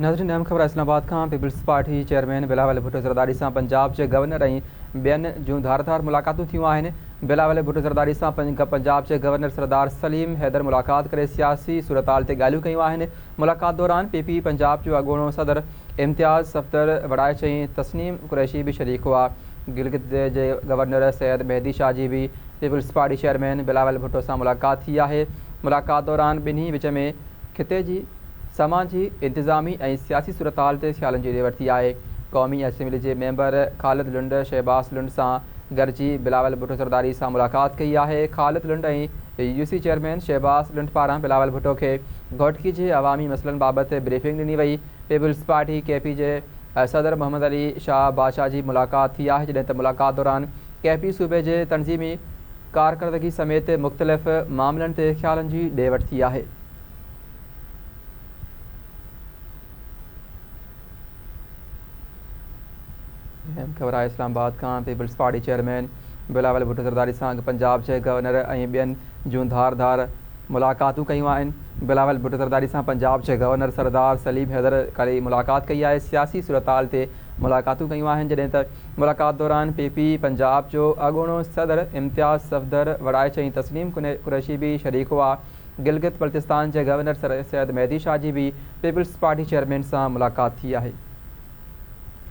ناظرين اهم خبر اسلام آباد کان، peoples party chairman Bilawal Bhutto Zardari سان پنجاب جي گورنر ۽ ٻين جون ڌار ڌار ملاقاتون ٿيون آهن، بلاول ڀٽو زرداري سان پنجاب جي گورنر سردار سليم حيدر ملاقات ڪري سياسي صورتحال تي ڳالهيون ڪيون آهن، ملاقات دوران پي پي پنجاب جو اڳوڻو صدر امتياز صفدر وڙائي چين تسنيم قريشي به شريڪ هئا، گلگت جي گورنر سيد مهدي شاهه جي به peoples party chairman Bilawal Bhutto سان ملاقات ٿي آهي. ملاقات دوران ٻنهي وچ ۾ خطي جي سماجي، انتظامي ۽ سياسي صورتحال تي خيالن جي ڏي وٺ ٿي آهي. قومي اسيمبلي جي ميمبر خالد لنڊ شهباز لنڊ سان گڏجي بلاول ڀٽو زرداري سان ملاقات ڪئي آهي. Khalid Lund ۽ U C chairman Shahbaz Lund پاران بلاول ڀٽو کي گهوٽڪي جي عوامي مسئلن بابت بريفنگ ڏني وئي. پيپلزپارٽي، ڪي پي، جي صدر محمد علي شاهه بادشاهه جي ملاقات ٿي آهي جڏهن ته ملاقات دوران ڪي پي صوبي جي تنظيمي ڪارڪردگي سميت مختلف معاملن تي خيالن جي ڏي وٺ ٿي آهي. اهم خبر آهي اسلام آباد کان peoples party chairman Bilawal Bhutto Zardari سان اڳ پنجاب جي گورنر ۽ ٻين جون ڌار ڌار ملاقاتون ڪيون آهن بلاول ڀٽو زرداري سان پنجاب جي گورنر سردار سليم حيدر ڪري ملاقات ڪئي آهي سياسي صورتحال تي ملاقاتون ڪيون آهن جڏهن ته ملاقات دوران پي پي پنجاب جو اڳوڻو صدر امتياز صفدر وڙائچ ۽ تسليم قريشي به شريڪ هئا گلگت بلتستان جي گورنر سر سيد مهدي شاهه جي به پيپلز پارٽي چيئرمين سان ملاقات ٿي آهي.